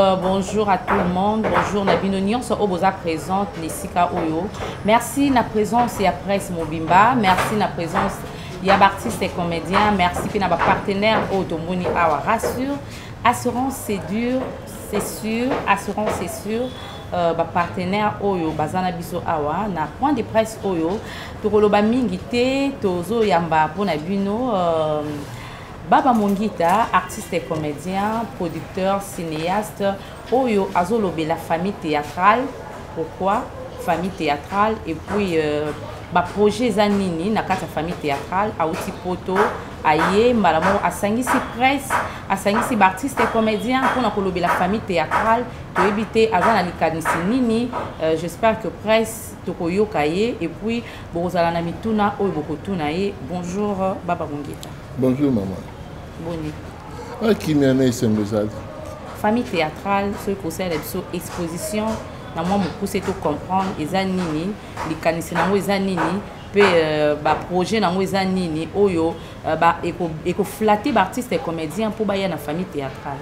Euh, bonjour à tout le monde bonjour na bino nyonso oyo boza présente na esika oyo merci na présence ya presse mobimba merci na présence ya baartiste et comédien merci mpe na bapartenaire oyo tomoni awa rassure assurance c'est dur c'est sûr assurance c'est sûr Euh, bapartenaire oyo baza na biso awa na point de presse oyo tokoloba mingi te tozoyamba mpona bino euh, Baba Mongita, artiste et comédien, producteur, cinéaste, oyo azolobela famille théâtrale. Pourquoi famille théâtrale et puis euh, ba projet eza nini na kati ya famille théâtrale auti poto aye mbala moko asangisi presse asangisi baartiste et comédien mpona kolobela famille théâtrale toyebi te aza na likanisi nini euh, j'espère que presse tokoyoka ye et puis bokozala na mituna oyo bokotuna ye bonjour baba mongeta bonjour mama boni akimia ah, na esengo ezali famille théâtrale soki kosalela biso exposition na mwa mokuse to comprendre eza nini likanisi nango eza nini mpe euh, baprojet nango eza nini oyo euh, ekoflate baartiste comédien mpo baya na famille théâtrale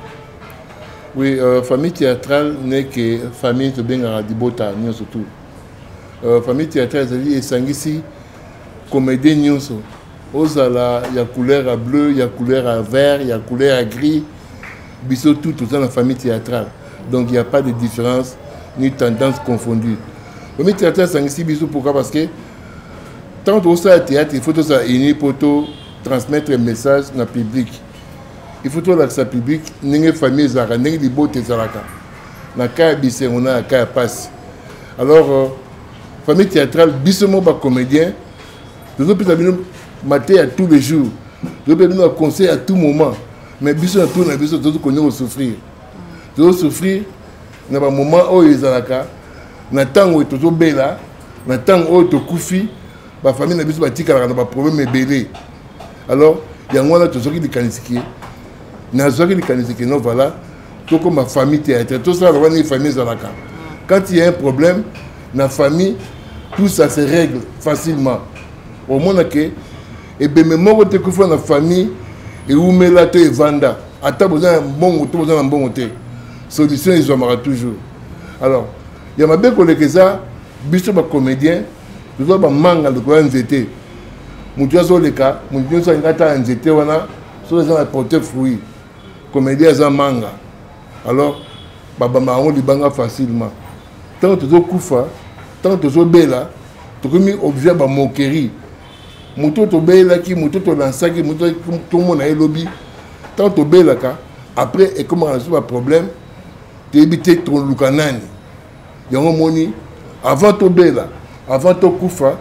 oui euh, famille théâtrale neke famille tobengaka libota nyonso tout Euh, famille théâtrale ezali esangisi comédien nyonso ozala ya couleur ya bleu ya couleur ya vert ya couleur ya gris biso tout toza na famille théâtrale donc il n'y a pas de différence ni tendance confondue famille théâtrale esangisi biso pourquoi parce que ntango tokosala théâtre il faut tozala uni mpo to transmettre message na public il faut tolakisa public ndenge famille ezalaka ndenge libota ezalaka na cas ya bisengo na ya cas ya pasi alors euh, famille théâtrale biso moko bacomédien tozopesa bino mate ya tous les jours tozopesa bino baconseil à tout moment mais biso na tour na biso tozo kondi kosouffrir tozosouffrir na bamoment oyo ezalaka na ntango oyo tozobela na ntango oyo tokufi bafamille na biso batikalaka na baproblème ebele alors yango wana tozwaki likanisi ke nazwaki likanisi ke no voilà tokoma famille théâtre tosala lokola ndenge famille ezalaka quand il y a un problème na famille tout ça se règle facilement omona ke ebembe moko te kufa na famille ewumela to evanda ata boza na mbongo to boza na mbongo te solution ezwamaka toujours alors ya mabe koleka eza biso bacomédien toza bamanga likolo ya nzete motu azoleka motu nyonso alinga ata ya nzete wana soki aza na porte fruit komedi aza manga alors babamba yango libanga facilement ntango tozokufa ntango tozobela tokomi objet ya bamokerie moto tobelaki moto tolansaki moto tomona ye lobi ntango tobelaka après ekomaka na biso baproblème toyebi te toluka nani yango moni avant tobela avant tokufa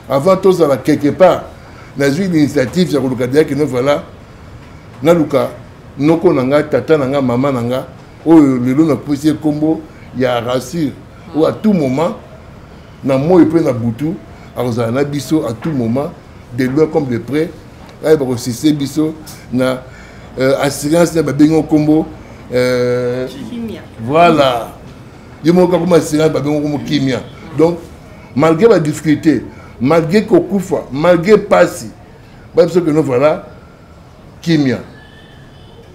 avant tozala quelque part nazwi initiative ya koluka deya kino voilà naluka noko na nga tata na nga mama na nga oyo lelo napesi ye nkombo ya rassure oyo à tout moment na moi mpe na butu akozala na biso à tout moment de loin comme de près baye bakosise biso na euh, assurance na babengi nkombo euh, voilà ye moko kakoma assurance babengi nkombo kimia donc malgré badifficulté malgré kokufa malgré mpasi baye biso keno voilà kimia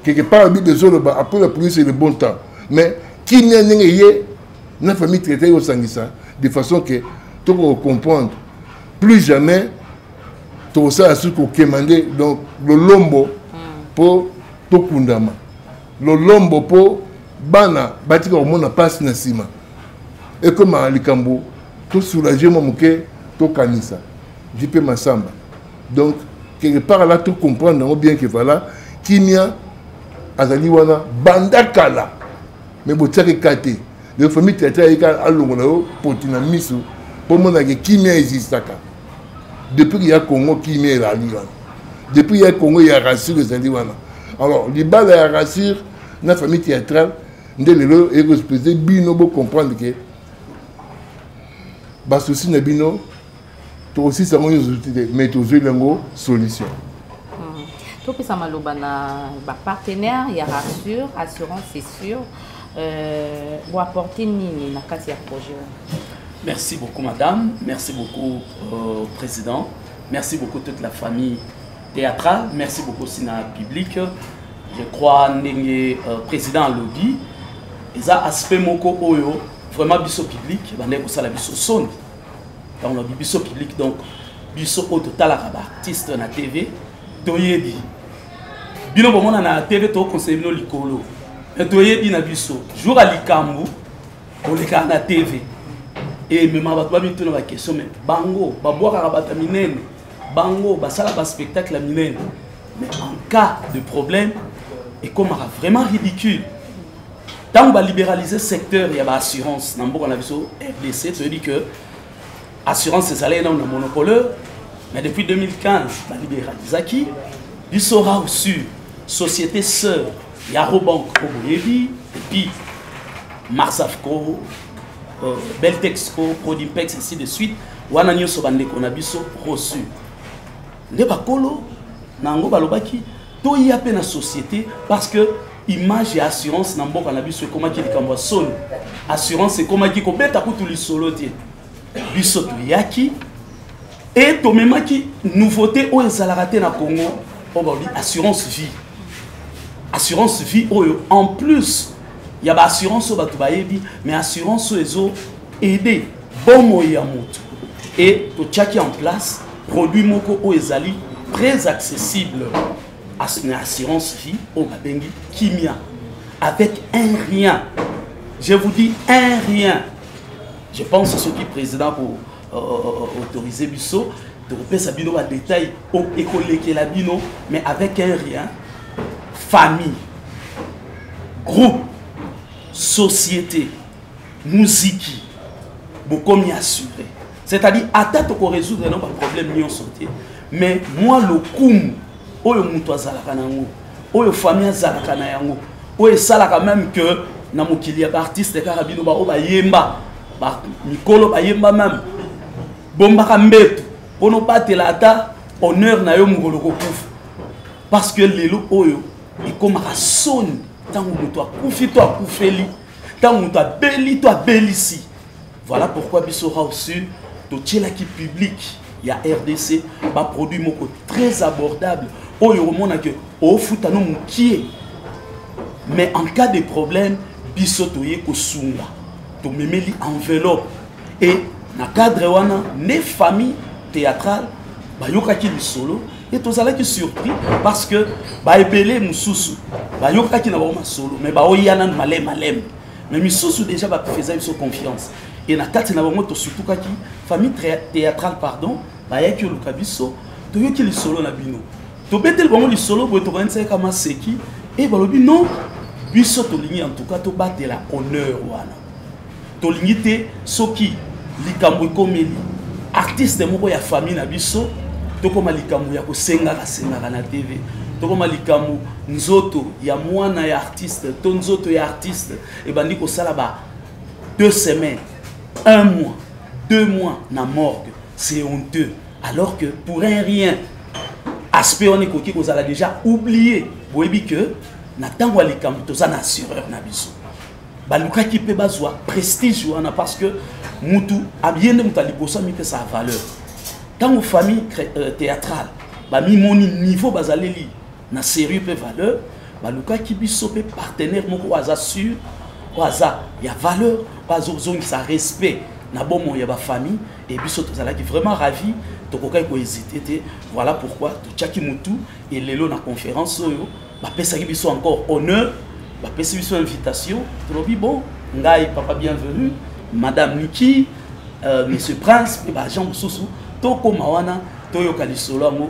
quelque part bible ezoloba après la pluie c'est le bon temps mais kimia ndenge eye na famille traité ekosangisa de façon que tokokocomprendre plus jamais tokosala soki kokema nde donc lolombo mpo hmm. tokundama lolombo mpo bana batika komona mpasi na nsima ekoma likambo tosoulage mwa moke tokanisa jp masamba donc quelque part là tocomprendre yango bien que voilà kimia azali wana banda kala me botiaka eka te lelo famille teatre ayika alongola yo poti na miso mpo omonake kimia ezistaka depuis ya congo kimia elali wana depuis ya congo ya rassure ezali wana alors libala ya rassure na famille théâtrale nde lelo ekospese bino bocomprendre ke basusi na bino tokosisa yango nyonso te mais tozweli yango solution hmm. topesa maloba na bapartenaire ya rassure assurance c'est sûr euh, apporter nini na kati ya projet merci beaucoup madame merci beaucoup euh, président merci beaucoup toute la famille théâtrale merci beaucoup aussi na public je crois ndenge euh, président alobi eza aspect moko oyo vraiment biso public ebandaki kosala biso soni ntango lobi biso public donc biso oyo totalaka baartiste na tv toyebi bino bomona na tv tokokonseye bino likolo me toyebi na biso jour ya likambo olekaka na tv emema bato bamituna bakestion me bango babwakaka bato ya minene bango basala baspectacle ya minene mais en cas de problème ekomaka vraiment ridicule ntango balibéralise secteur ya baassurance na mboka na biso rdc toyebi que assurance ezalaki nano na monopoleur mais depuis 2015 baliberalizaki biso rau sur société sœur ya robank oyo boyebi epuis marsafco euh, beltexco prodimpex ainsi de suite wana nyonso bandeko na biso reçu nde bakolo na yango balobaki toya mpe na société parce que image ya assurance na mboka na biso ekomaki likambo ya soni assurance ekomaki kobeta kutu lisolo te biso toyaki e tomemaki nouveauté oyo ezalaka te na congo oyo balobi assurance vie assurance vie oyo en plus ya baassurance oyo bato bayebi mais assurance oyo ezo aide bomoi ya moto e totyaki en place produit moko oyo ezali très accessible na assurance vie oyo babengi kimia avec un rien je vous dis un rien je pense soki président ko euh, euh, autoriser biso tokopesa bino badetail ekolekela bino mais avec un rien famille groupe société muziki bokomi assuré c'est-à-dire ata tokorésoudre no baproblème nyonso te mais mwa lokumu oyo mutu azalaka na yango oyo famille azalaka na yango oyo esalaka même que na mokili ya baartiste kaka bino baoyo bayemba mikolo bayemba meme bombaka mbetu mpo nobatela ata honneur na yo mokolo kokufa parce que lelo oyo ekomaka soni ntango moto akufi to akufeli ntango moto abeli to abelisi Voilà pourquoi biso House Sud totielaki public ya RDC ba produit moko très abordable oyo omona que ofuta no mukie mais en cas de problème biso toye kosunga tomemeli enveloppe et na cadre wana ne famille théâtrale bayokaki lisolo et tozalaki surpris parce que baebele mosusu bayokaki na bango masolo mais baoya nanu maleme maleme mais misusu déjà ba faisait biso confiance et na kati na bango tosutukaki famille théâtrale pardon bayaki oluka biso toyoki lisolo na bino tobeteli bango lisolo boye tokanisaki kama seki e balobi non biso tolingi en tout cas tobatela honneur wana tolingi te soki likambo ekomeli artiste moko ya famille na biso tokoma likambo ya kosengaka sengaka na tv tokoma likambo nzoto ya mwana ya artiste to nzoto ya artiste ebandi kosala ba deux semaines un mois deux mois na morgue c'est honteux alors que pour un rien aspect wana ekoki kozala déjà oublié boyebi que na ntango ya likambo toza na assureur na biso balukaki mpe bazwa prestige wana parce que mutu abiye nde moto ya liboso amipesa valeur ntango famille euh, théâtrale bamimoni niveau bazaleli na serieux mpe valeur balukaki biso mpe partenaire moko oyo aza sur oyo aza ya valeur oyo azozongisa respect na bomoi ya bafamille e biso tozalaki vraiment ravi tokokaki kohésite te voilà pourquoi totyaki motu e lelo na conférence oyo bapesaki biso encore honneur bapesi biso invitation tolobi bon ngai papa bienvenu madame niki euh, monsieur prince mpe baagent mosusu tokóma wana toyoka lisolo yango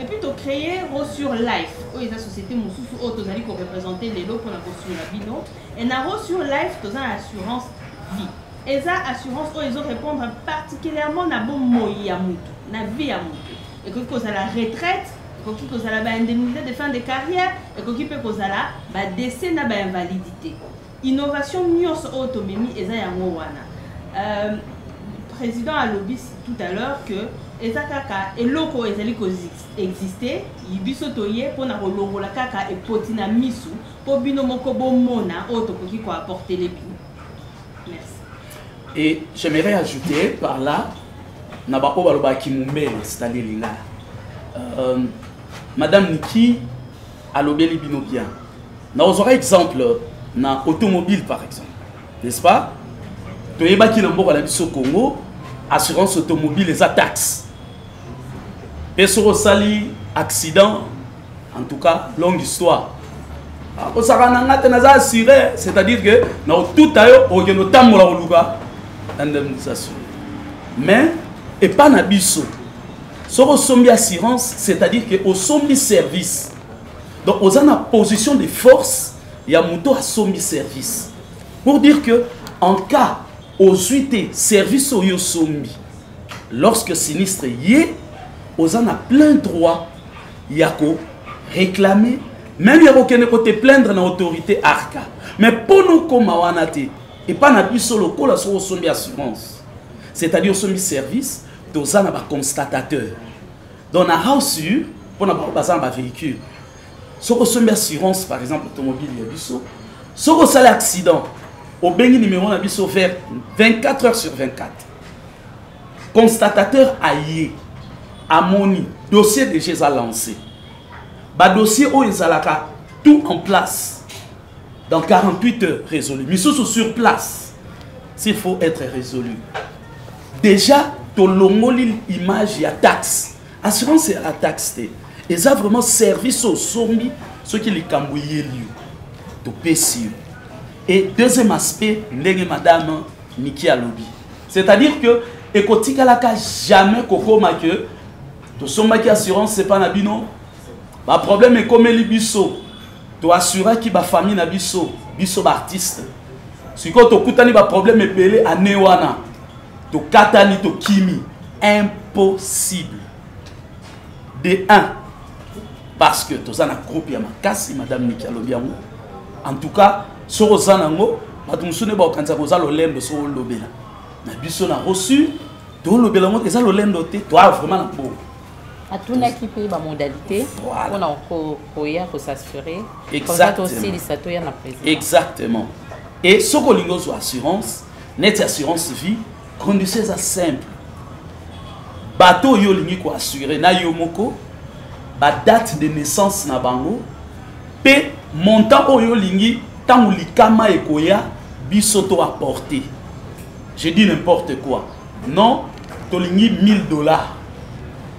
Et puis to créer Rosure Life, oyo eza société mosusu oyo tozali ko représenter lelo mpo na kosunga bino. Et na Rosure Life toza na assurance vie. Eza assurance oyo ezo répondre particulièrement na bomoi ya mutu, na vie ya mutu. Ekoki kozala retraite, ekoki kozala ba indemnité de fin de carrière, ekoki mpe kozala ba décès na ba invalidité. Innovation nionso oyo tomemi eza yango wana. Euh, président alobi tout à l'heure que eza kaka eloko ezali ko exister biso toye pona kolongola kaka epoti na misu po bino moko bomona oyo tokoki ko apporter les bino. Merci. Et j'aimerais ajouter par là na bapo balobaki mumbele c'est-à-dire lingala. Euh, Madame Niki alobeli bino bien na ozwaka exemple na automobile par exemple n'est-ce pas toyebaki na mboka na biso congo assurance automobile eza taxe mpe soki osali accident en tout cas longue histoire akosaka ah, na nga te naza assuré c'est-à-dire que na otuta yo okende otambola koluka indemnisation mais epa na biso soki osombi assurance c'est-à-dire que osombi service donc oza na position de force ya moto asombi service pour dire que en cas ozwi te service oyo osombi lorsque sinistre ye oza na plein droit ya ko réclamer meme ya kokende kote plaindre na autorité arca mais mpo nokoma wana te epai na biso lokola soki osombi assurance c'est-à-dire osombi service toza na baconstatateur donc na house u mpo na bango baza na bavéhicule soki osombi assurance par exemple automobile ya biso soki osali accident obengi numéro na biso vers 24 heures sur 24 constatateur aye amoni dossier déjà eza lancé badossier oyo ezalaka tout en place dans 48 heures résolu misusu sur place s'il faut être résolu déjà tolongoli image ya taxe assurance ya taxe te eza vraiment service osombi soki likambo eyeli yo topesi yo et deuxième aspect ndenge madame miki alobi c'est-à-dire que ekotikalaka jamais kokoma ke tosombaki assurance epa na bino baproblème ekomeli biso To assuraki ba famille na biso, biso ba artistes. Siko tokutani ba problème ebele année wana. Tokatani tokimi impossible. De 1 parce que toza na groupe ya makasi madame Niki alobi yango. En tout cas, soko oza nango bato mosusu nde bakokanisa koza lolendo soko olobela na biso na reçu tolobela yango eza lolendo te toa vraiment na bongo atunaki mpe bamodalité mpona koya kosassurer oza tosilisa toya na président exactement e soki olingi ozwa assurance neti assurance vie condition eza simple bato oyo olingi koassure na yo moko badate de naissance na bango mpe montant oyo olingi ntango likama ekoya biso to apporte je dis n'importe quoi non tolingi 1000 dollars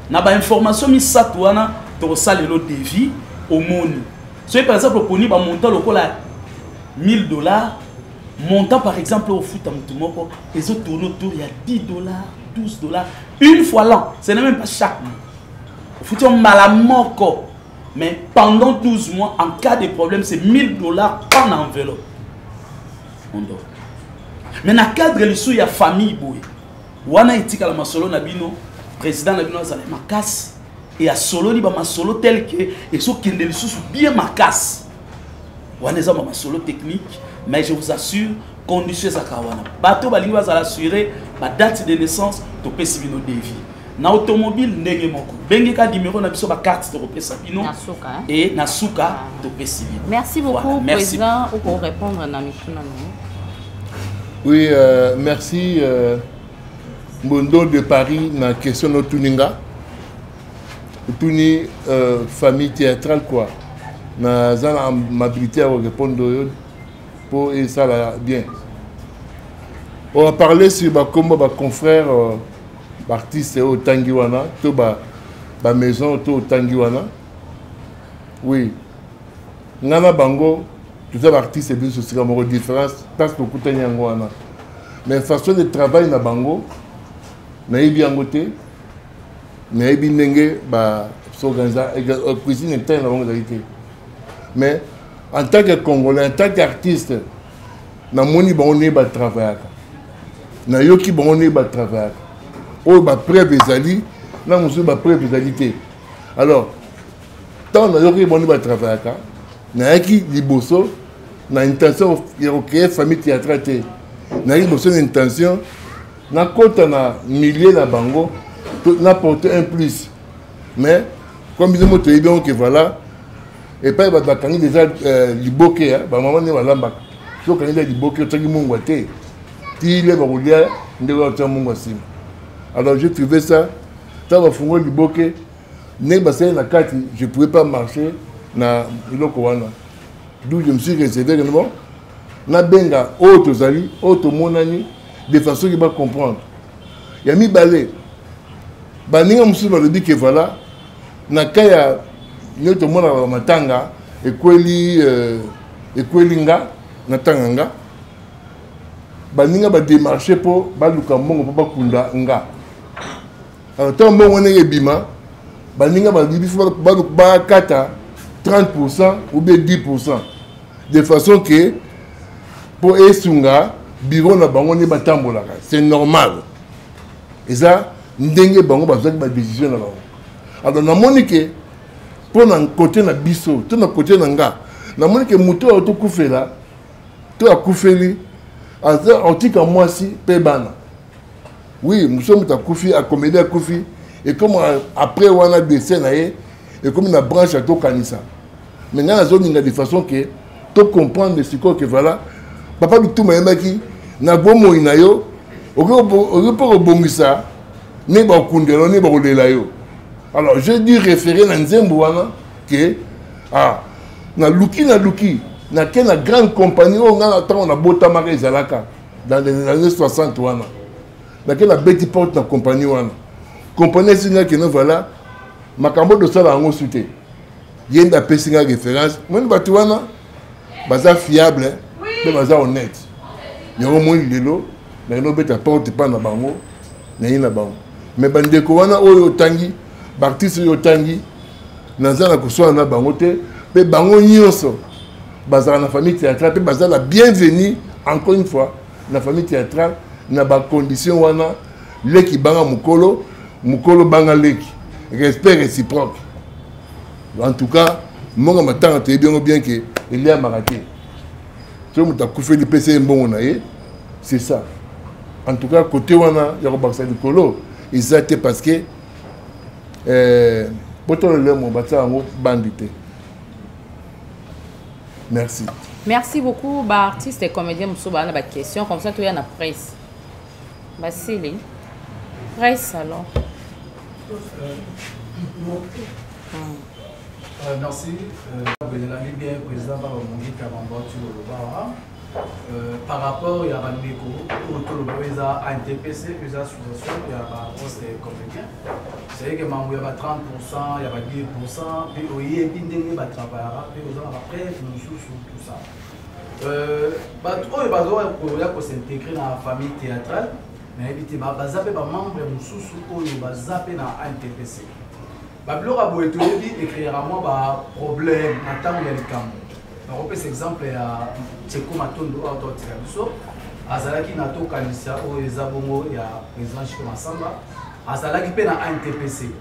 na bainformation misato wana tokosala lelo devis omoni soki par exemple oponi bamontant lokola 1000 dollars montant par exemple ofuta motu moko ezotourne autour ya 10 dollars 12 dollars une fois l'an ce n'est même pas chaque mois ofuti yo mbala moko mais pendant 12 mois en cas de problème c'est 1000 dollars en enveloppe Mondo. Mais na cadre lisu ya famille boye. Wana etikala masolo na bino, président na bino azala makasi et asololi ba masolo tel que ezokende lisusu bien makasi. Wana eza ba masolo technique, mais je vous assure condition ezaka wana. Bato balingi bazala assuré ba date de naissance topesi bino devis. na automobile ndenge moko bengeka numero na biso bacarte tokopesa bino e na suka ah. topesi bino merci beaucoup président okorépondre na mituna na oui euh, merci euh, mbondo de paris na question otuni nga otuni euh, famille théâtrale quoi naza na amabilité ya korépondre oyo mpo esala bien on va parler sur bakombo baconfrère euh, baartiste oyo otangi wana to bamaison to otangi wana oui ngai na bango toza baartiste biso sika moko différence place tokutani yango wana mais façon de travail na bango nayebi yango te nayebi ndenge baorganisa euh, cuisine interne na bango ezali te mais en tant que congolais en tant qu'artiste namoni bango ndenge batravayaka nayoki bango ndenge batravayaka oyo bapreuve ezali na mosusu bapreuve ezali te alors ntango nayoki bango ndenge batravayaka nayaki liboso na intention ya kocreye famille théâtra te nayaki liboso na intention nakota na milieu na bango naporte un plus mais comme bino mo toyebi yango ke voilà epai bato bakangi deja euh, liboke ya bamama nde balambaka soki okangi deja liboke otyaki mungwa te tile bakolia ndenge otya mungwa nsima alors je trouvé ça ntango bafungoli liboke ndenge basali na kati je pouvais pas marcher na eloko wana d'où je me suis réservé que bon nabenga oyo tozali oyo tomonani de façon ke bacomprendre ya mibale baninga mosusu balobi ke voilà na ka ya yo tomonaka matanga ekweli euh, ekweli nga natanga nga baninga bademarche mpo baluka mbongo mpo bakunda nga alors ntango mbongo wana ebima baninga balingi biso bakata 30 pourcent ou bien 10 pourcent de façon ke mpo esunga biro na bango nde batambolaka c'est normal eza ndenge bango bazwaki badesizio na bango alors namoni ke mpo na kote na biso to na kote na nga namoni ke moto oyo tokufela to akufeli aza otika mwasi mpe bana oui mosusu moto akufi akomedi akufi ekomi après wana dese na ye ekomi na branche ya tokanisa mais ngai nazolinga de façon ke tocomprendre sikoyo ke voilà papa bituma ayebaki na bomoi na yo okoki mpo kobongisa nde bakokundela nde bakolela yo alors je dû référer na nzembo wana ke ah, naluki naluki nake na grande compagnie oyo ngai na ntango nabotamaka ezalaka dans les années 60 wana nake nabeti porte na compagnie wana compagnie esingaki no voilà makambo tosala yango su te ye nde apesi ngai référence moni bato wana baza fiable mpe baza honnête yango moi lelo naye nobeta porte epai na bango naye na bango me bandeko wana oyo otangi baartiste oyo otangi naza na koswana na bango te mpe bango nyonso bazalaka na famille théâtrale mpe baza na bienvenu encore une fois na famille théâtrale na bacondition wana leki banga mokolo mokolo banga leki respect réciproque en tout cas mbongo ya matanga toyebi yango bien ke eliamaka te soki moto akufeli pesa ye mbongo na ye c'est ça en tout cas côté wana ya kobakisa likolo eza te parce que eh, botolo lemo batia yango bandi te merci merci beaucoup baartiste et comédien mosusu baa na baquestion comme ça toya na presse basili presse alors Euh, merci. Belelami bien président Babamongi Kabamba Tuloloba. Euh, par rapport ya bandeko oyo toloba oyo eza antpc oyo eza association ya baposte comédien cestadire mambo ya ba 30 pourcent ya ba 10 pourcent mpe oyebi ndenge batravaillaka mpe oza na bapreve mosusu tout ça euh, bato oyo bazoya kosintegre na famille théâtrale nayebi te baza mpe bamembre mosusu oyo baza mpe na antpc babiloko ya boye toyebi ekreaka mwa baproblème na ntango ya likambo nakopesa exemple ya teko matondo oyo totika biso azalaki na tokanisa oyo eza bongo ya président chiko masamba azalaki mpe na antpc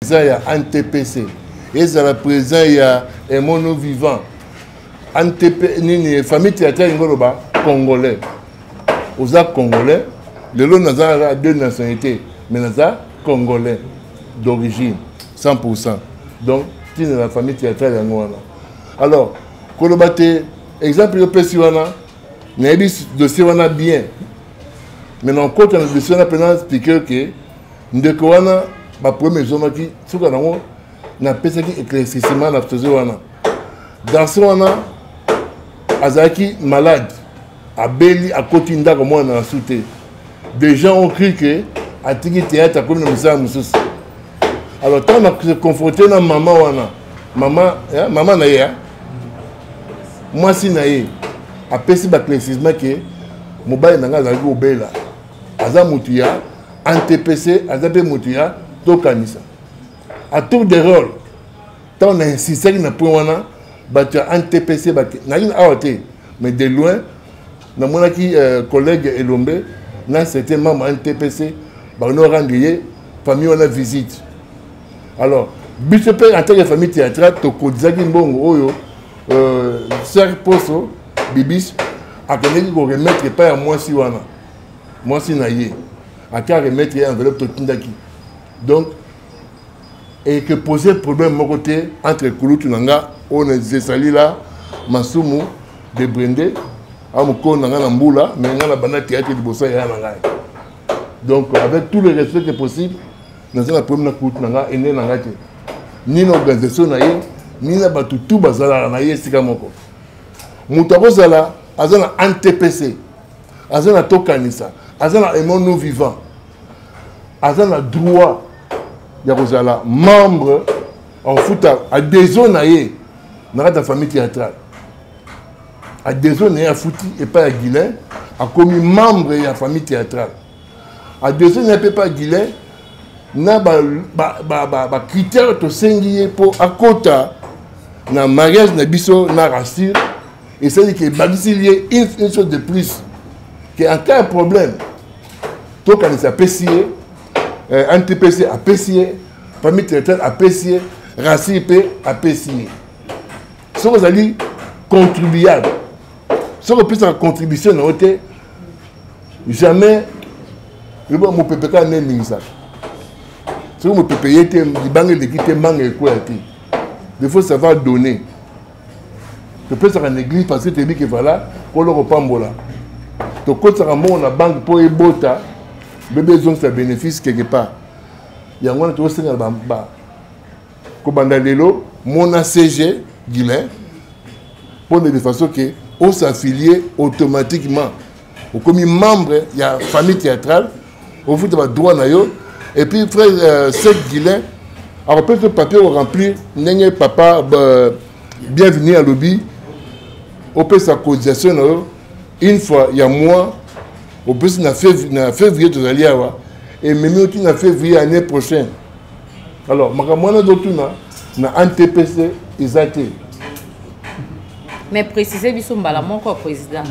président ya antpc ezala président ya emono vivant antp nini famille théâtre alingi oloba congolais oza congolais lelo naza na deux nationalité mais naza congolais d'origine 100 pourcent donc ntina na famille théâtrale yango wana alors koloba te exemple yopesi wana nayebi dossier wana bien mais na okota na biso na mpena speaker ke ndeko wana baproblème ezomaki suka nango napesaki éclaircissement na tozo wana garçon wana azalaki malade abeli akoti ndako mwana na su te des gens ont cru que atiki théâtre akomi na mosala mosusu alors ntango na se confronte na mama wana maman eh, maman na ye hein? mwasi na ye apesi baclaircisement ke mobali na ngai azalaki kobela aza motu ya antepese aza mpe motu ya tokanisa a tour de role ntango na insistaki na point wana bato ya antepese nayini awa te mais de loin namonaki euh, collègue elombe na certain mama ntpc bakende orendre ye famille wana visite alors biso mpe en tant que famille théâtrale tokodisaki mbongo oyo euh, ser poso bibis akendeki koremettre epai ya mwasi wana mwasi na ye ake aremettre ye enveloppe totindaki donc et que poser problème moko te entre kulutu na nga oyo ezali la masumu de brende amokolo na nga na mbula me nga na banda teyate liboso yaya na ngai donc avec tout le respect que possible naza na problème na kulutu na nga ene na ngai te ni na organisation na ye ni na bato tu bazalaka na ye esika moko moto akozala aza na antpc aza na tokanisa aza na aimon nous vivant aza na droit ya kozala membre akofuta adhesion na ye na kati ya famille théâtrale adhesion na ye afuti epai ya guilin akomi membre ya famille théâtrale adhesion na ye mpe epai ya guilin na bacritère ba, ba, ba tosengi ye mpo akota na mariage na biso na rasure esali ke ebakisili ye une chose de plus ke en cas ya problème tokanisi apesi ye eh, antipesi apesi ye famille territoriale apesi ye racine mpe apesi ye soki ozali contribuable soki opesaka contribution na yo te jamais yoba mopepe kaka nde eningisaka soki mopepe ye te libanga eleki te mbanga ekwea te il faut savoir donner topesaka na église parce que toyebi ke vala nkolo kopambola tokotisaka mbongo na banke mpo ebota bebe ezongisa bénéfice quelque part yango wana tokosenga na kobanda lelo mona cg guilin mpo na de façon ke osaffilie automatiquement okomi membre ya famille théâtrale ofuta badroit na yo et puis frère euh, sek guilin akopesa papier oremplir ndenge papa euh, bienvenu alobi opesa cotisation na yo une fois ya mois opesi na février tozali awa ememi oti na février année prochaine alors makambo wana ezotuna na antpc eza te mais précise biso mbala moko président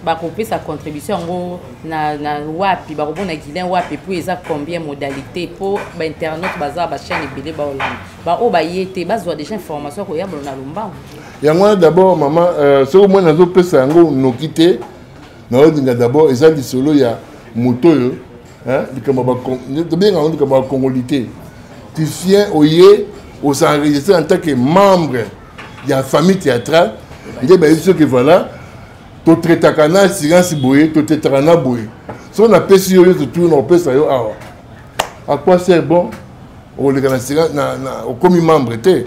bakopesa contribution yango na, na wapi bakobona guilin wapi mpo eza combien modalité mpo bainternaute baza bachaine ebele baolanda baoyo baye te bazwa déjà information koyambola na lombango yango wana d'abord mama euh, soki omoi nazopesa yango noki te naolinga d'abord eza lisolo ya moto oyo Hein? likambo tobenga yango likambo ya congolité tu viens oye osenregistre en tant que membre ya famille théâtrale nde bayebi soki voilà totraitaka na silence boye totraitaka na boye soki napesi yo nyonso tuna opesa yo awa à quoi sert bon okoleka na silence okomi membre te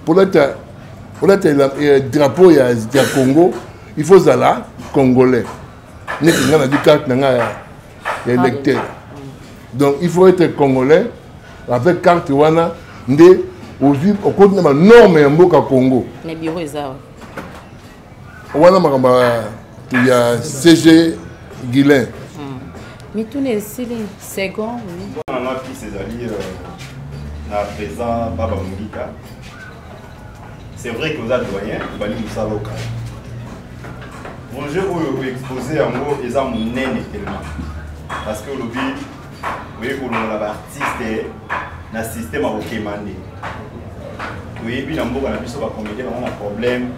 polata polata drapeau ya congo il faut ozala congolais neti nga nazwi carte na nga ya électeur donc il faut être congolais avec carte wana nde ozwi okoti na banorme ya mboka congo na biro eza wana makambo ya cg guilin hmm. mituna esili second nanga pise ezali euh, na présent baba mongika C'est vrai que oza doyen, obali mosala okala. Projet oyo oexpose yango eza monene tellement. Parce que olobi oye kolongola baartiste na système ya kokema nde. Toyebi na mboka na biso bakomedie bango na problème,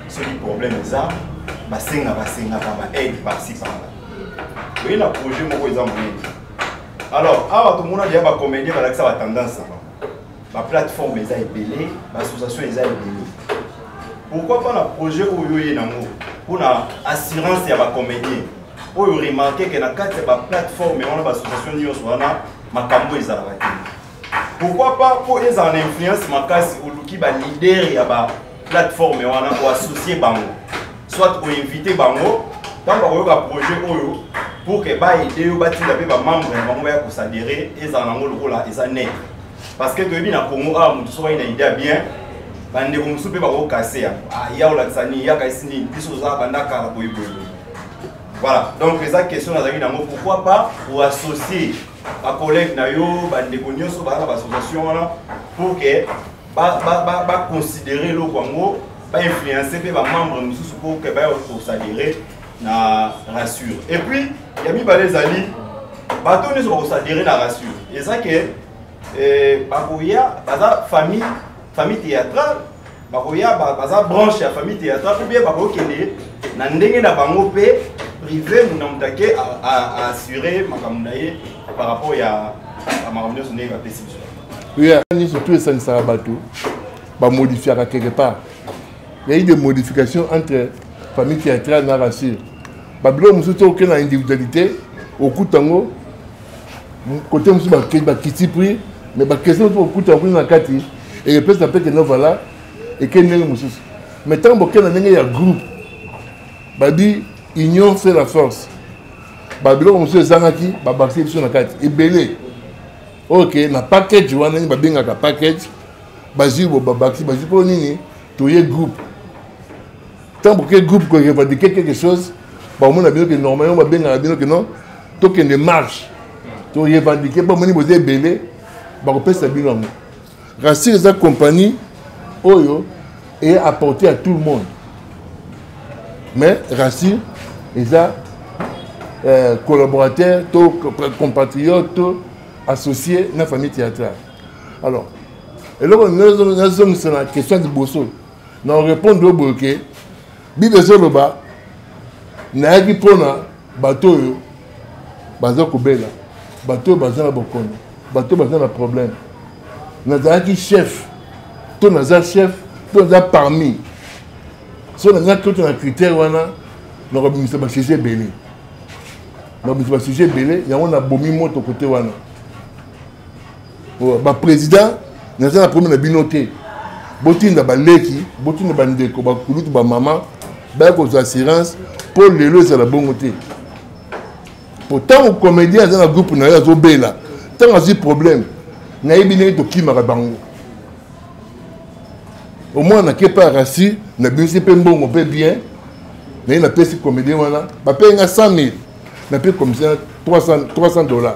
soki problème eza basenga basengaka ba aide parci parla. Oye na projet moko eza monene. Alors awa tomona deya bakomedie balakisa batendance na bango. ba plateforme eza ebele ba association eza ebele pourquoi pas na projet oyo ye nango mpo na assurance ya bacomédien oyo remarke ke na kati ya baplateforme wana baassociation nyonso wana makambo ezalaka te pourquoi pas mpo ezala na influence makasi oluki balider ya baplateforme wana oassocie bango soit oinvite bango ntango bakoyoka projet oyo pour ke baide yo batinda mpe bamembre na bango baya kosadere ezala nango lokola eza net parce que toyebi na congo awa motu soki ayi na idea bien bandeko mosusu mpe bakokase ya ah, ya olakisa nini yaka esi nini biso tozala banda kala boyeboye voilà donc eza question nazalaki nango pourquoi pas oassocie bacollègue na yo bandeko nyonso baza na baassociation wana pour que baconsidere eloko yango bainfluence mpe bamembre mosusu pour que baye kosadere na rassure et puis ya mibale ezali bato nyonso bakosadere na rassure eza ke eh, bakoya baza famille famille théâtrale bakoya baza branche ya famille théâtrale ou bien bakokende na ndenge na bango mpe privé muna moto ake aassure makambo na ye par rapport ya makambo nyonso ndenge bapesi biso nyonso tu esangisaka bato bamodifiaka quelque part Il y a eu des modifications entre famille théâtrale na rassure babiloko mosusu te okei na individualité okuta yango kote mosusu bakiti prix mais bakestion mosusu okuta yango na kati ekepesa mpe kende vala ekei ndenge mosusu mais ntango bokei na ndenge ya groupe babi union fait la force babiloko mosusu ezangaki babakisi biso na kati ebele oyo ke na package wana nini babengaka package bazwi bo babakisi bazwi mpo nini toye groupe ntango ke groupe ko revendiquer quelque chose bakomona bino ke normalement babengaka bino ke non tokende marche to revendiquer mpo bamoni boza ebele bakopesa bino yango rasir eza compagnie oyo eye apporté à tout le monde mais rasir eza euh, collaborateur to compatriote to associé na famille théâtrale alors eloko nazongisa na question ya liboso na orépondre oyo boye ke bible ezoloba nayaki mpona bato oyo baza kobela bato oyo baza na bokono bato oyo baza na problème nazalaki chef to naza chef to naza parmi so naza kyoto na critère wana nakobimisa basujet ebele nakobimisa basujet ebele yango nabomi moto kote wana oh, ba président naza na problème na bino te botinda baleki botinda bandeko bakulutu bamama baya kozwa assurance mpo lelo ezala bongo te mpo ntango comédien aza na groupe na yo azobela ntango azwi problème nayebi ndenge tokimaka bango omwana nake mpe arasi nabimisi mpe mbongo mpe bien naye napesi comédien wana bapeye nga 100 000 nape commissaire 300 dollars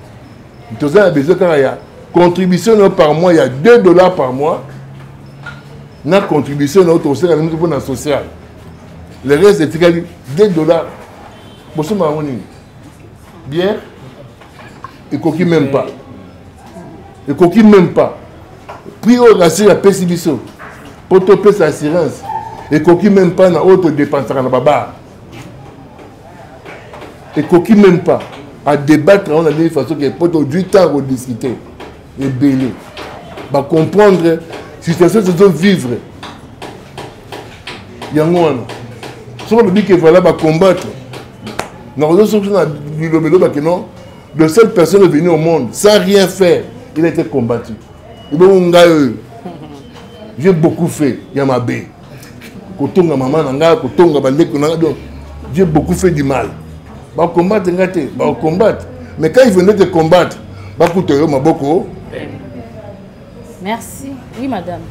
toza na besoin kaka ya contribution na yo par mois ya 2 dollars par mois na contribution na yo tokoseka na miso mpo na social le reste etikali 2 dollars bosomba yango nini bière ekoki même pas ekoki même pas prix oyo rasir apesi biso mpo topesa assurance ekoki même pas na oyo todepensaka na babare ekoki même pas à débattre yango na ndenge façon ke mpo tozwi temps ya kodiscute ebele bacomprendre situation tozo vivre yango wana soki olobi ke voilà bacombattre nakozo soki na liloba elobake non le seul personne venu au monde sans rien faire il a été combattu ebongo ngai oyo j'ai beaucoup fait ya mabe kotonga mama na ngai kotonga bandeko na ngai donc j'ai beaucoup fait du mal bakombate ngai te bakombate mais quand ils venaient te combattre bakuta yo maboko merci oui madame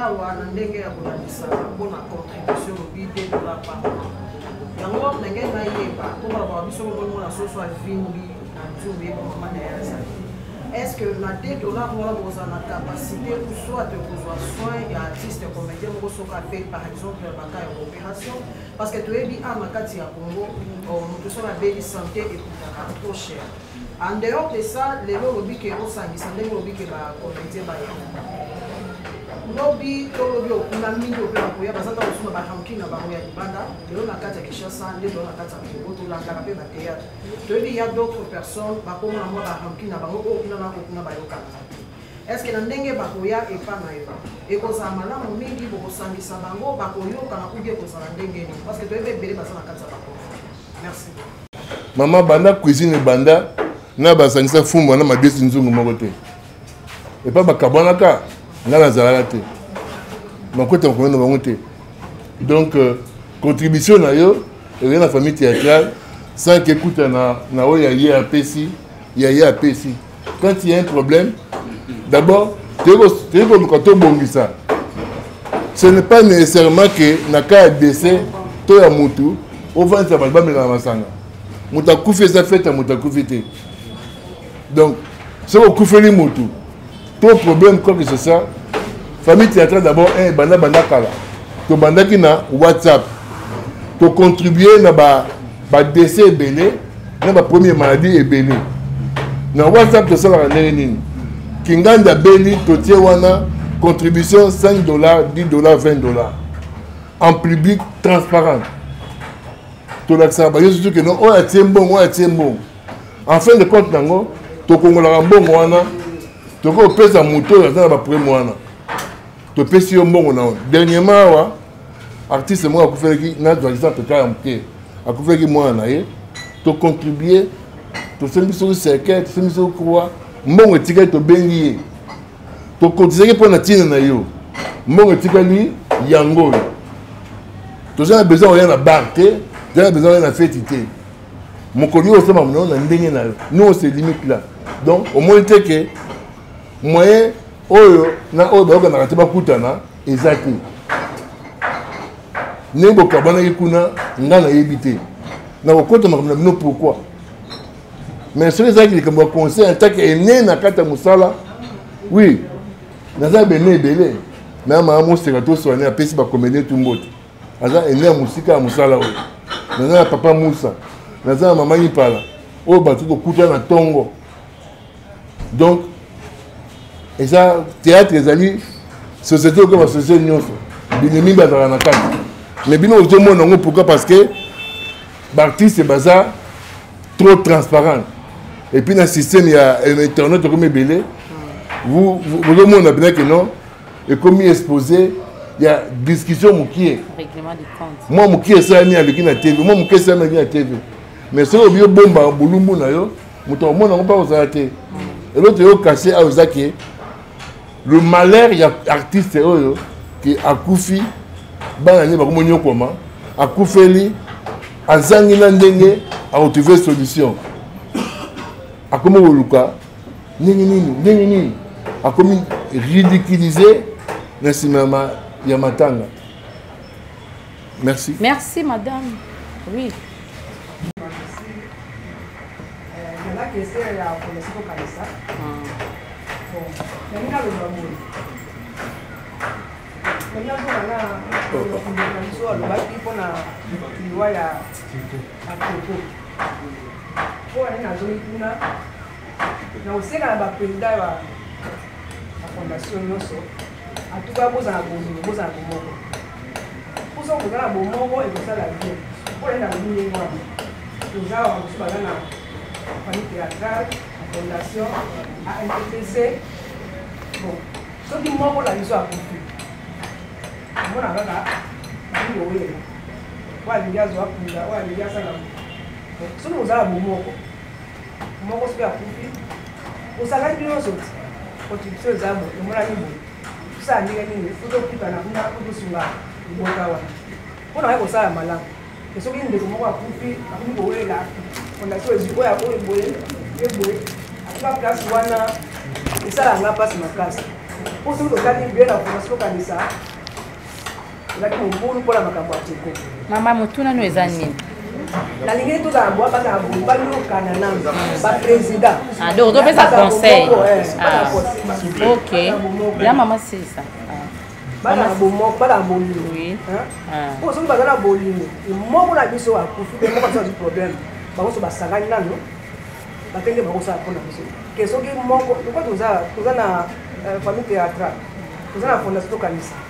awa na ndenge ya kolandisa mpona contribution lobi 2 dollar par mois yango wapi na ngai nayeba mpo babaka biso mokomo na soso avimbi na nzube ye bamama na ye azali est ce que na te dollar wana bokozala na capacité ou soit kozwa soin ya artiste comédien moko soki ape par exemple baka ya coopération parce que toyebi a na kati ya congo moto soki abeli santé ekutaka trop cher En dehors de ça, lelo olobi ke osangisa ndenge olobi ke ba comédien baya lobi to lobi okuna mingi ope bakoya baza ntango mosusu na baranking na bango ya libanda lelo na kati ya kinshasa nde lelo na kati ya kongo tolandaka mpe bateatre toyebi ya d'autres personnes bakoma na mwa baranking na bango oyo kuna na kokuna bayokanaka eske na ndenge bakoya epa na yo ekozala malamu mingi bokosangisa bango bakoyokana kubi ekozala ndenge nini parce que toyebi ebele baza na kati ya bango mama banda cuisine ebanda na basangisa fumba na mabesi nzungu moko te epa bakabwanaka ngai nazalaka te makwete makomi na bango te donc euh, contribution na yo ezali na famille théâtrale sans kekuta na oyo ya ye apesi ya ye apesi quand il y a un problème d'abord toyei koluka tobongisa ce n'est pas nécessairement que na cas ya décès to ya motu ofandisa bato bamelaka masanga moto akufi eza fete ya moto akufi te donc soki okufeli motu to problème quoi que ce soit famille théâtrale d'abord un eh, banda banda kala tobandaki na whatsapp tocontribue na ba badese ebele na bapremier maladie ebele na whatsapp tosalaka ndenge nini kingandi abeli totie wana contribution 5 dollars 10 dollars 20 dollars en public transparent tolakisaka bayo surtout ke no oyo atie mbongo oyo atie mbongo en fin de compte nango tokongolaka mbongo wana tokoki kopesa moto oyo aza na baprime wana topesi yo mbongo na yo dernièrement awa artiste moko akufelaki na doisisant peka ya moke akufelaki mwana na ye tocontribue tosembi soki cercueil tosembi soki croix mbongo etikali tobengi ye tokotisaki mpo na ntina na yo mbongo etikali yango oyo toza na besoin oya na bar te toza na besoin oya na feti te mokolo yo osomba monao na ndenge na yo nous on se limite là donc omoni te ke moyen oyo na oyo bayokanaka te bakutana eza te ndenge bokabanaki kuna ngai nayebi te nakokota makambo na bino pourkui mais soki ezalaki likambo ya conseil ya ntaki ene na kati ya mosala oui naza bene ebele me ya mama moseka toswane apesi bakomedien tu mbote aza ene ya mosika ya mosala oyo naza na papa musa naza na mama impala oyo bato kokutana na ntongo donc eza théâtre ezali société okoyeba société nyonso binemi bazala na kati mais bino ozomona yango pourquoi parce que baartiste baza trop transparent et puis na système ya euh, internet okomi ebele bozomona mpenza ke non ekomi exposé ya discussion mokie mwa mokie esalami aleki na tv mwa mokie esalami aleki na tv mais soki obi obomba bolumbu na yo moto akomona yango mpe akozala te eloko yo kase ayo eza ke le malheur ya artiste oyo ke akufi bana nde bakomonyokwama akufeli azangi na ndenge aretrouve solution akomi koluka ndenge nini ndenge nini akomi ridiculize na nsima ya matanga Merci. Merci, madame. Oui. alobaki mpona liwa ya akoko mpo ane nazongi kuna na kosenga na baprésident ya bafondation nyonso En tout cas, bozala bozala bozala bomoko. Poso kozala bomoko ekosala bien. Mpo na nini ndenge wana? Toza wa mosusu baza na famille théâtrale, na fondation, à MPPC. Bon, soki moko na biso akufi, omona kaka nini oyela. Oyo alingi azwa kunda, oyo alingi asala. Soki ozala bomoko, moko soki akufi osalaki bino nyonso ti contribution eza bo emonani boye tosala ndenge nini fo tokutana kuna po tosunga libota wana mpo na kai kosala malamu e soki ndeko moko akufi akomi kowelela fondation ezwi oyo akoyo boye ye boye akufa place wana esalanga mpasi makasi mpo soki totali bie na fondation tokanisa ezalaki mobulu mpo na makambo ya teko mama motuna no eza nini nalingeli tozala bwa bazala boye bayokana na baprésident ah, donc topesa conseil eh, ah. ok ya mama sisa balaa bomoko balaa bolingo mpo ah. soki baza na bolingo moko na biso akufi te moko biso azwi problème bango so basangani nano bakende bakosala mpo na biso ke soki moko lokola toza na euh, famille théâtrale toza na fondation tokanisa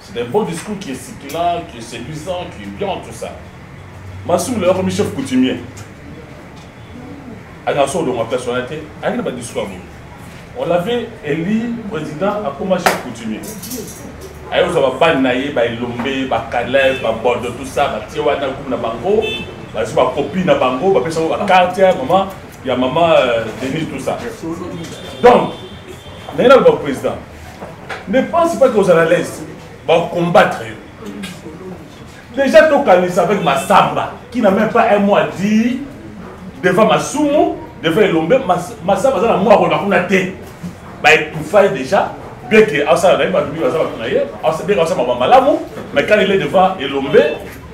C'est un bon discours qui est stipulant, qui est séduisant, qui est bien, tout ça. Massoum, le premier chef coutumier, à la sorte de ma personnalité, à une bonne discours. On l'avait élu président à comme chef coutumier. ayo ozwa babani na ye baelombe bakalef babordo tout ça batie wana kumu na bango bazwi bakopi na bango bapesa bango bakarte ya mama ya mama euh, denis tout ça donc naye naloba président ne pense pas que ozala à l'aise bacombattre yo déjà tokanisa avec masamba qui n'a même pas un mois dit devant masumu devant elombe masamba aza na mwa akolba kuna te baetufa ye déjà bien que asala na ye bato mingi baza bato na ye bien asala maba malamu mais quand il est devant elombe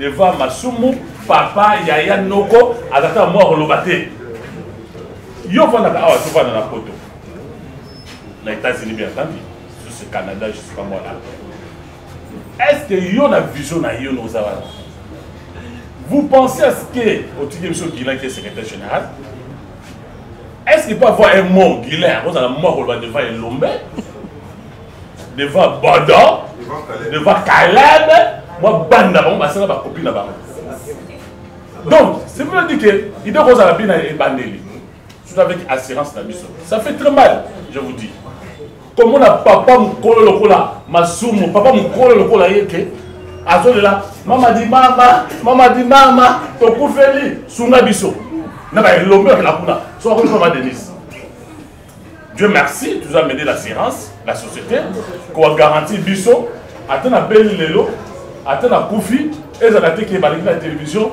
devant masumu papa yaya noko azata mwa akoloba te yo ofandaka awa tofanda na poto na États-Unis bien entendu sur ce Canada je sais pas moi là est-ce que yo na vision na yo noza wana vous pensez à ce que otiki biso Guilain qui est secrétaire général est-ce qu'il peut avoir un mot Guilain akozala mwa koloba devant Elombe devant Bodo devant Caleb mwa banda bango basala bakopi na bango donc c'est pour dire que idée kozala bina ebandeli surtout avec assurance na biso ça fait très mal je vous dis komona papa mokolo lokola masumu papa mokolo lokola ye ke azolela mama di mama mama di mama tokufeli sunga biso na baelombe okela kuna so akoki mama denise dieu merci nous a mede l'assurance la société koagaranti biso ata na beli lelo ata na kufi ezala te ke balingi na télévision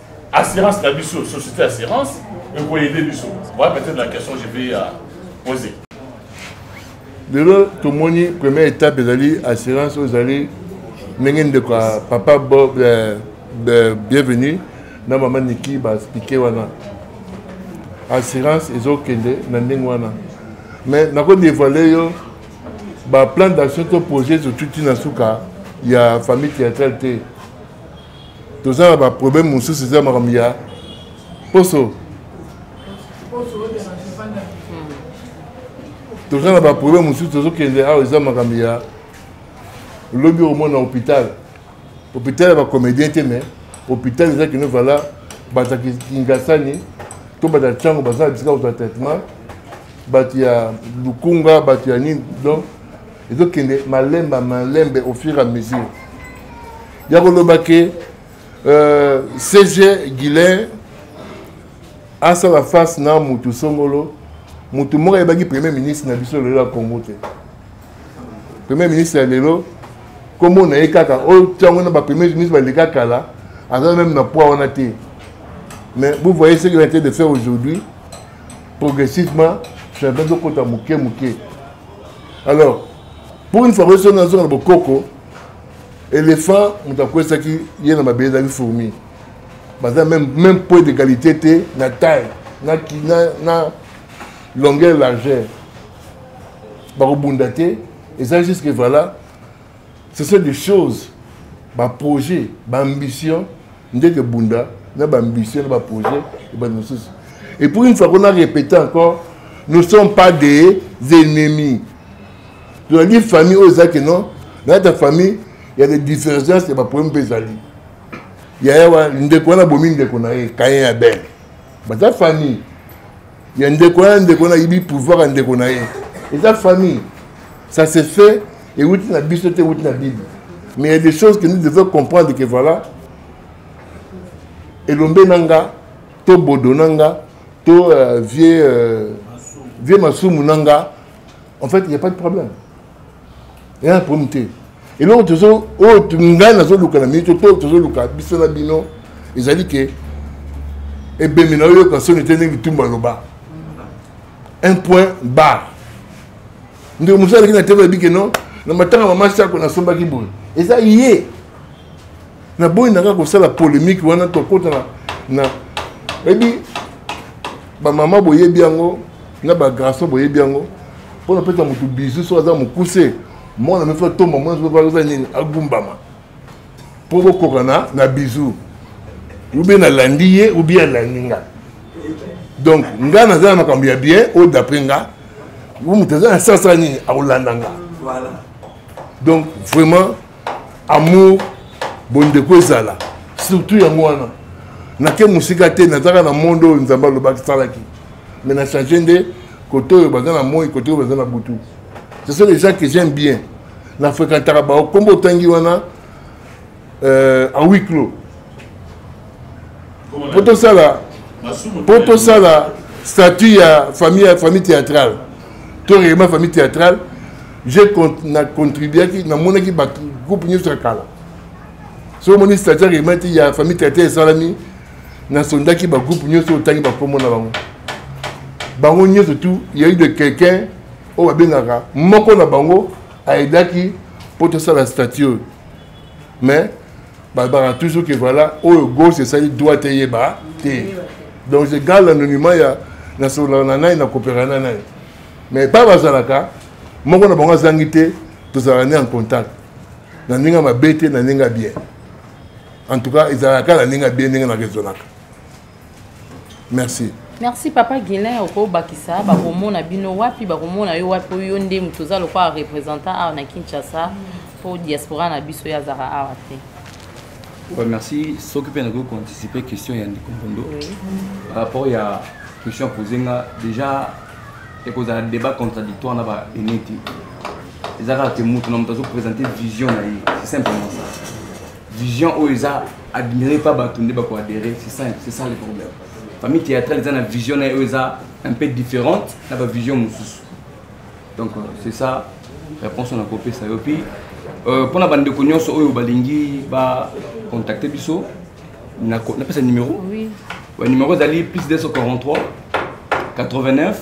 assurance na biso société assurance ekoyede biso voilà peut-être la question je vais euh, poser lelo tomoni première étape ezali assurance oyo ezali ndenge ndeko ya papa bob euh, euh, bienvenu na mama niki baexplike wana assurance ezokende na ndenge wana mais nakodevoile yo baplan d'action to projet ezotuti na suka ya famille théâtrale te toza na baproblème mosusu eza makambo ya poso toza na baproblème mosusu tozokende awa eza makambo ya lobi omona hôpital hôpital ya bacomédien te mais hôpital eza kino vala bato ya kingasani to bato ya ntango baza na bisika kozwa traitement bato ya lukunga bato ya nini donc ezokende malemba malembe au fur et à mesure ya koloba ke euh, cg guilain asala face na mutu songolo mutu moko ayebaki premier ministre na biso lelo ya congo te premier ministre ya lelo nkombo na ye kaka oyo ntango na bapremier ministre baleka kala aza meme na poids wana te mais vous voyez ce qu'il a de faire aujourd'hui progressivement changement ezokota moke moke alors pour une fois oyo so nazonga na bokoko elephant moto akwesaki ye na mabele ezalaki fourmi baza même, même point d'égalité te na taille na, na, na longueur largeur bakobunda te eza juste que voilà ce sont des choses baprojet baambition nde ke bunda na baambition na baprojet ebandi mosusu et pour une fois qu'on a répété encore nous ne sommes pas des ennemis tozali famille oyo eza ke non na kati ya famille ya de divergence ya baproblème mpe ezali yaya wa ndeko wana bomi ndeko na ye kayen ya bene baza famille ya ndeko wana ndeko wana ayibi pouvoir ya ndeko na ye eza famille ça se fait ewuti na biso te ewuti na bible mais il y a des choses que nous devons comprendre que voilà elombe na nga to bodo na nga to euh, vieux euh, vieux masumu na nga en fait il y a pas de problème il y a un problème te eloko tozo oyo oh, ngai nazoluka na minute to tozoluka biso na bino ezali ke ebembe na oyoka soni te ndenge bitumba aloba un point bar ndeko mosusu aleki na tebe abike non na matanga mama sako nasombaki boye eza ye naboyi nanga kosala polémique wana tokota na ebi bamama boyebi yango na ba garçon boyebi yango mpona pesa motu bizu soki aza mokuse mwana mefa tomba mwana soki aza nini agumbama mpo bokokana na bizu oubien nalandi ye oubien alandi nga donc nga naza na makambo ya bien oyo d'après nga moto aza na sasa nini akolanda nga donc vraiment amour bondeko ezala surtout yango wana nake mosika te nazaka na monde oyo nzambe alobaki salaki me na change nde kote oyo baza na moi kote oyo baza na butu ce sont les gens que j'aime bien na fréquentaka bango nkombo otangi wana euh, en huis clos mpo tosala mpo tosala statut ya famille ya famille théâtrale to règlement famille théâtrale je na contribuaki namonaki bato groupe nyonso ya kala soki omoni statut ya règlement ti ya famille théâtrale esalami nasondaki bagroupe nyonso otangi bakombo na bango bango nyonso tu yai de quelqu'un oyo babengaka moko na bango aedaki mpo tosala statut oyo mais balobaka toujours que voilà oyo gauche esali droite eyeba te donc je garde l'anonymat ya nasololaka na nani nakopeka na nani mais pa bazalaka moko na bango azangi te tozalaka ne en contact na ndenge mabe te na ndenge bien en tout cas ezalaka kaka na ndenge bien ndenge na raisonnaka merci merci papa guilin okobakisa bakomona bino wapi bakomona yo wapi oyo nde moto oza lokola représentant awa na kinshasa mpo diaspora na biso ye azaka awa te ouais, merci soki mpe nakoki koanticipe question ya ndeko mbondo par rapport ya question pose nga déjà ekozala débat contradictoire na baene te eza kaka te moto na moto azoprésente vision na ye c'est simplement ça vision oyo eza admiré pa bato nde bakoadhéré c'est ça c'est ça le problème famille théâtrale eza na vision na ye oyo eza un peu différente na bavision mosusu donc euh, c'est ça réponse na kopesa yo puis euh, mpo na bandeko nyonso oyo balingi bacontacte biso napesa numéro oui. ouais, numéro ezali plus 243 89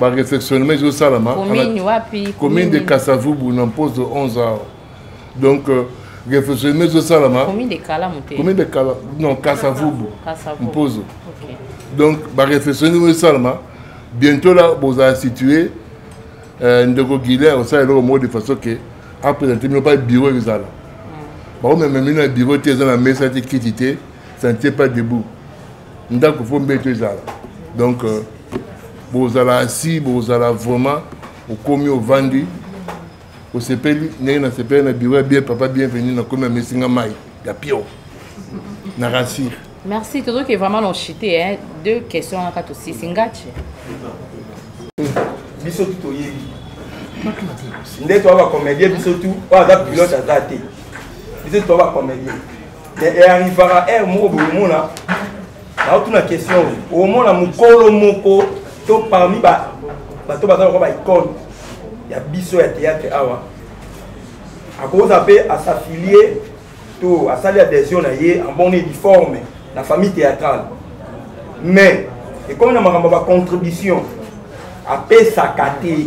baresectionnement ezosalama commune de kasavubu na mposo 11 heures donc euh, refectionnement ezosalama commune de kala non kasavubu mposo donc barefectionnement ezosalama bientôt là bozala situé euh, ndeko guilaire osala eloko moko de façon ke apresente bino pa bureau ezala bakomema bino na bureau te eza na mesa te kiti te ça ne tient pas debout ndako mpo mbeto ezala donc euh, bozala asi bozala vraiment okomi ovandi osepeli ndenge nasepeli na biro ya bien papa bienvenu nakomi amesi nga mai ya pio na rasir merci tozoki vraiment lonchite hein? deux questions aka tosisi ngace biso tu toyebi nde toa bacomédien biso tu oyo aza pilote aza te biso tu toa bacomédien earrivaka heure moko bokomona naotuna question omona mokolo moko to parmi bato baza lokwa baicone ya biso ya théâtre awa akozala mpe asaffilie to asali adhesion na ye en bonne uniforme na famille théâtrale mais ekomi na makambo ya bacontribution apesaka te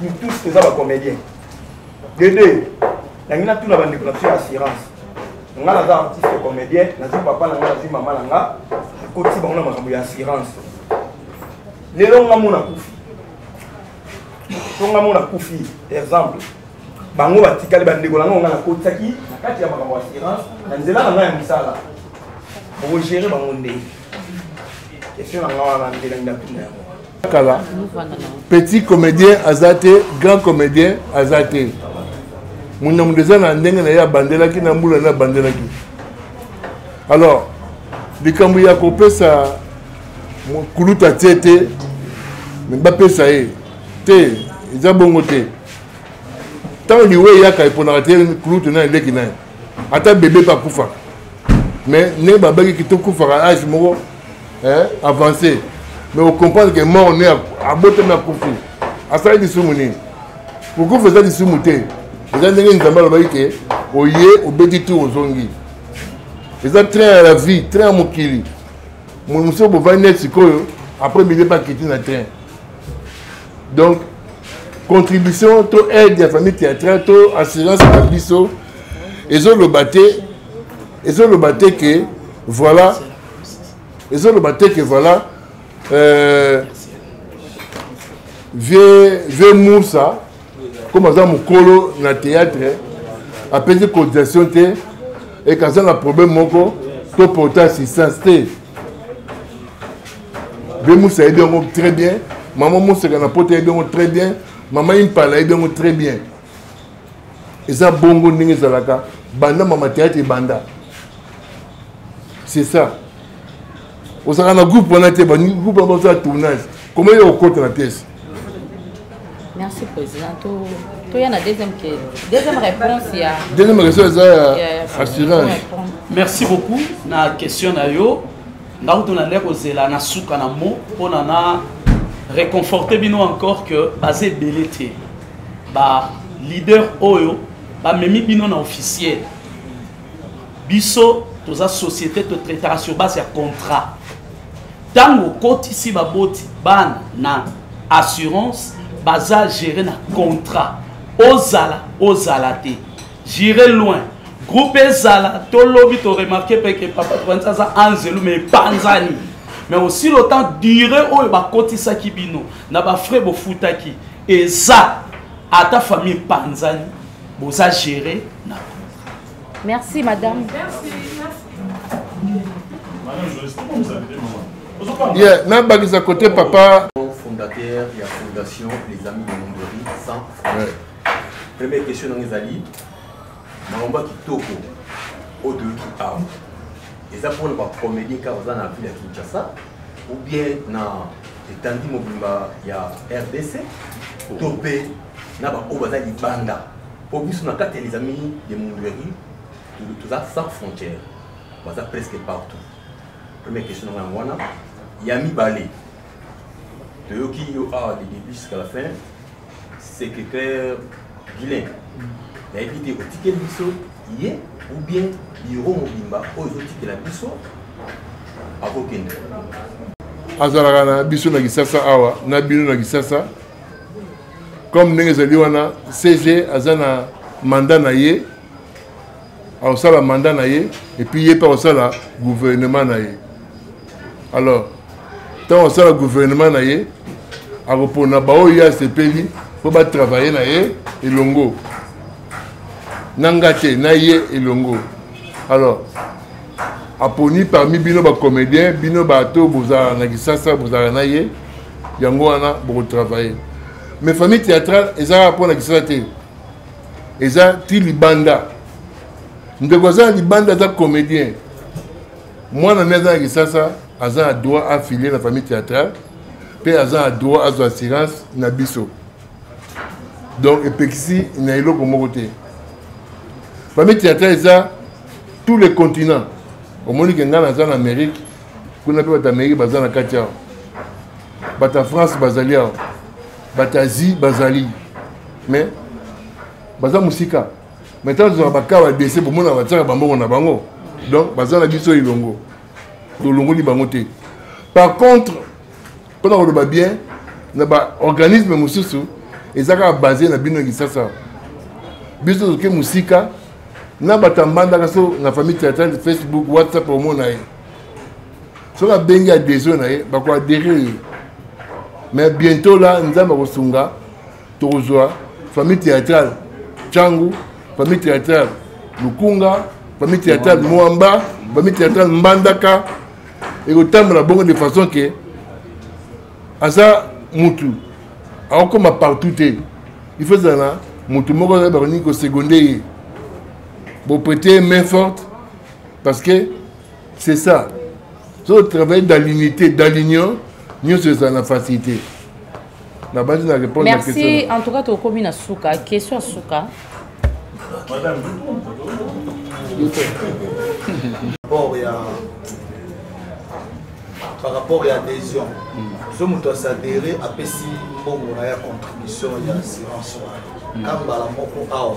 nous tous toza ba comédien dede nangi natuna bandeko na biso ya assurance nga naza artiste comédien nazwi papa na nga nazwi mama na nga akotisi bango na makambo ya assurance lelo nga mona kufi to nga mona kufi exemple bango batikali bandeko na ngonga nakotisaki na kati ya makambo ya assurance na nzela na ngai ya mosala okogere bango ndenge question na nga wana ndelangi na bino yango kala petit comédien aza te grand comédien aza te moto na moto eza na ndenge na ye abandelaki na mbula na abandelaki alors likambo ya kopesa kuluta tie te me bapesa ye te eza bongo te ntango liwa eyaka eponaka te kulutu na eleki na ye ata bebe mpe akufaka mais ndenge babaki kito kufaka age moko avancé mais ocomprendre ke mort ne abotami akufi asali lisumu nini kokufa eza lisumu te eza ndenge nzambe alobaki ke oye obeti tour ozongi eza train ya la vie train ya mokili mosusu bovandi neti sikoyo après bebe bakiti na train donc contribution to aide ya famille théâtrale to assurance na biso ezoloba te ezoloba te ke voilà ezoloba te ke voilà euh, vieux vieux musa comme aza mokolo na théâtre apesi cotisation te ekazanga problème moko to porta assistance te be musa ayebi yango très bien mama moseka na poto ayebi yango très bien mama impala ayebi yango très bien eza bongo ndenge ezalaka banda mama théâtre ebanda c'est ça ozalaka na groupe wana te bagroupe wana bazala tournage koma yo okota na pièce merci président toya na deuxième deuxième réponse ya deuxième réponse eza ya assurance merci beaucoup na question na yo nga kutu nande kozela na suka na mo mpona na réconforte bino encore que baza ebele te ba leader oyo bamemi bino na officiel biso toza société to traitaka sur base ya contrat ntango okotisi baboti bana na assurance baza gere na contrat ozala ozala te jire loin groupe ezala tolobi toremarke mpe ke papa tokanisi aza anzelu ma epanzani mais aussi le temps dure oyo bakotisaki bino na bafrai bofutaki eza ata famille epanzani boza gere na Merci madame. Merci. Yeah, nabakisa côté papa. Fondateur ya fondation les amis de Mondori sans ouais. Première question nanga ezali maomba kitoko oyo toyoki awa eza mpona bacomédien kaka baza na ville ya Kinshasa ou bien na etandi mobimba ya RDC to mpe na baoyo baza libanda po biso na kati ya les amis de mundueri toza sans frontière baza presque partout première question na yango wana ya mibale toyoki yo awa de début jusqu'à la fin secrétaire guilin nayebi te otikeli biso ye ou bien biro mobimba oyo ezotikela biso akokende azalaka na biso na kisasa awa na bino na kisasa comme ndenge ezali wana cg aza na mandat na ye akosala mandat na ye epuis ye mpe akosala gouvernement na ye alors ntango akosala gouvernement na ye akopona baoyo ye asepeli mpo batravaille na ye elongo na nga te na ye elongo alors aponi parmi bino bacomédien bino bato bozala na kisasa bozala na ye yango wana bokotravaille mais famille théâtrale eza kaka mpo na kisala te eza ti libanda ndeko aza na libanda aza comédien mwana nde aza na kisasa aza na droit afilie na famille théâtrale mpe aza na droit azwa assurance na biso donc epekisi na eloko moko te famille théâtrale eza tous les continents omoni ke ngai naza na amérique kuna mpe bato amerike baza na kati awa bato ya france bazali awa bato ya asie bazali mais baza mosika mais ntango tozwaka bakaa badese bomona batiaka bambongo na bango donc baza na biso elongo tolongoli bango te par contre mpo na koloba bien na baorganisme mosusu eza kaka base na bino ya kisasa biso toke mosika na bato ambandaka so na famille teatrale facebook whatsapp omona ye soki abengi adhesion na ye bakoadere ye mais bientôt la nzambe akosunga tokozwa famille théâtrale cangu famille théâtrale lukunga famille théâtrale mwamba famille théâtrale mbandaka ekotambola bongo de façon ke aza mutu akokoma partout te il faut ezala na mutu moko ayeba kolingi kosegonde ye boprete main forte parce que c'est ça so travaille dans l'unité dans l'union nyonso ezala na facilité nabandi na répondre merci en tout cas tokomi na suka question ya suka rapport ya par rapport ya adhésion so moto asadere apesi mbongo na ya contribution ya assurance wana ka mbala moko awa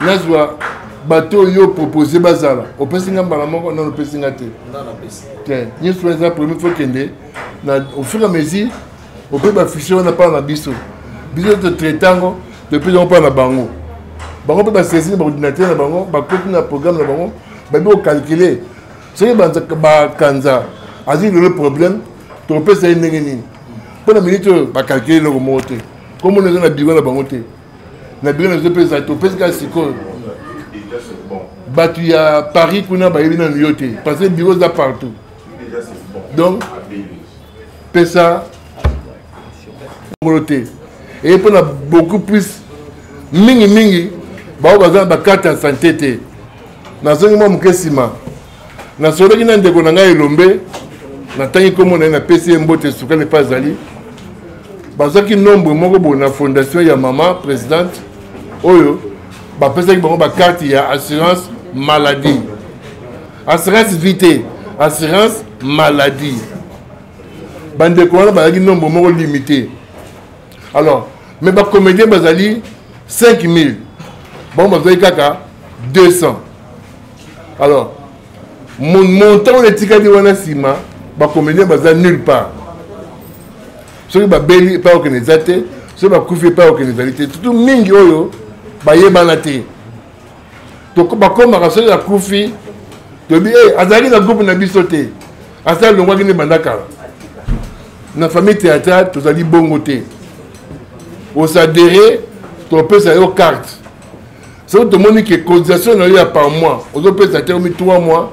nazwa bato oyo opropose bazala opesi nga mbala moko nano opesi nga te te nyonso wana eza premier fo kende na au fur et à mesure ope bafichier wana mpana na biso biso totraite yango topesi yango mpana na bango bango mpe basaisine baordinateur na bango bakoti na programme na bango babi kokalkule soki bakanza azwi lelo problème tokopesa ye ndenge nini mpo na minute oyo bakalkule eloko moko te komona eza na biro na bango te na bino nazo mpe ezali topesi kaka sikoyo bato ya paris kuna bayebi nanu yo te parce que biro eza partout donc pesa ngolo te eye mpona beaucoup plus mingimingi baoyo baza na bakarte ya sante te nazongi mwa moke nsima nasololaki na ndeko na ngai elombe natangi nkombo na ye napesi ye mbote sukali epai azali bazwaki nombre moko boye na fondation ya mama présidente oyo bapesaki bango bakarte ya assurance maladie assurance vie te assurance maladie bandeko wana bazalaki nombre moko limité alors mais bacomédien bazali 5000 bango bazwaki kaka 200 alors montant oyo etikali wana nsima bacomédien baza nulle part soki babeli epai okende eza te soki bakufi epai okende ezali te tutu mingi oyo bayebana te bakomaka soki akufi toyebi hey, eh, azalaki na groupe na biso te asala longwaki nde banda kala na famille théâtrale tozali bongo te osadere topesa yo carte soki tomoni ke cotisation na yo ya par mois ozopesa te omi 3 mois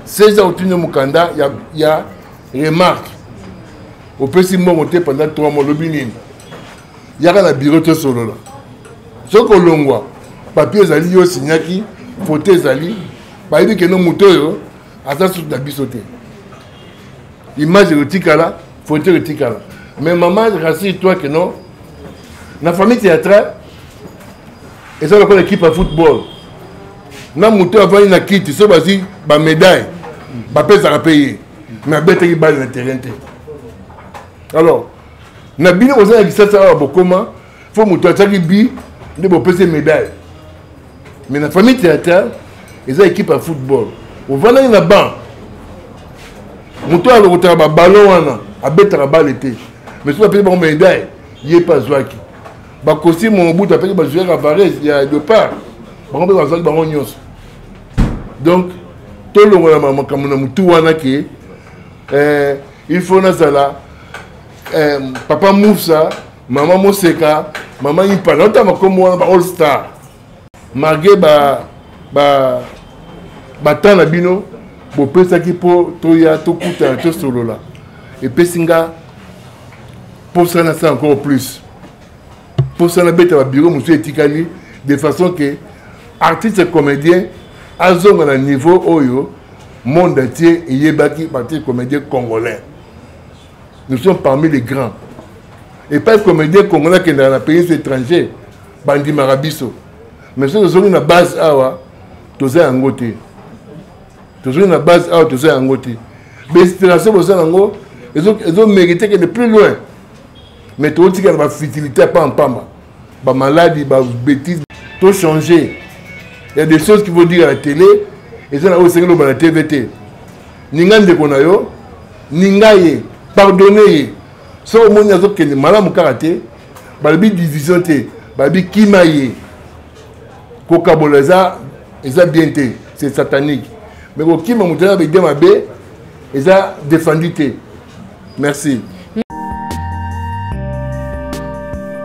seza otindi mokanda ya, ya remarque opesi mbongo te pendant 3 mois olobi nini yaka na biro tosolola soki olongwa papier ezali yo osinyaki foto ezali bayebi keno moto oyo aza susu na biso te image ekotikala foto ekotikala mais mama rassure toi que non na famille théâtrale eza lokola équipe ya football na moto avandi na kiti so bazwi bamédaille bapesaka mpe ye mais abetaki bale na terrain te alors na bino boza na lisasa awa bokoma fo moto atiaki bi nde bopesi médaille mais na famille théâtrale eza équipe ya football ovandaki na banc moto oyo alokotaka baballon wana abetaka bale te mais soki apesi bango médaille ye mpe azwaki bakosi mobutu apesi bazuya cavares ya depart bango mpe bazwaki bango nyonso donc tolongolama makambo na motu wana ke eh, il faut nazala eh, papa musa mama moseka mama impala ota makombo wana ba all star malgré ba ba batemps na bino bopesaki mpo toya tokutana tosolola epesi nga mposa nasala encore plus mposa nabeta babiro mosusu etikali de façon ke artiste comédien azonga na niveau oyo monde atie eyebaki baartiste comédien congolais nous sommes parmi les grands epai comédien congolais akendaka na pays étranger bandimaka biso mais soki tozongi na base awa toza yango te tozongi na base awa toza yango te bainspiration boza yango ezomérite kende plus loin mais tokotikala bafutilité ya pamba mpamba ba maladi ba betise to changer ya des choses qui vont dire à la télé eza na oyo esengeli loba na tv te ninga ndeko na yo ninga ye pardonne ye soki omoni azokende malamu kaka te balobi division te balobi kima ye kokabola eza eza bien te c'est satanique mais kokima moto na baide mabe eza défendu te merci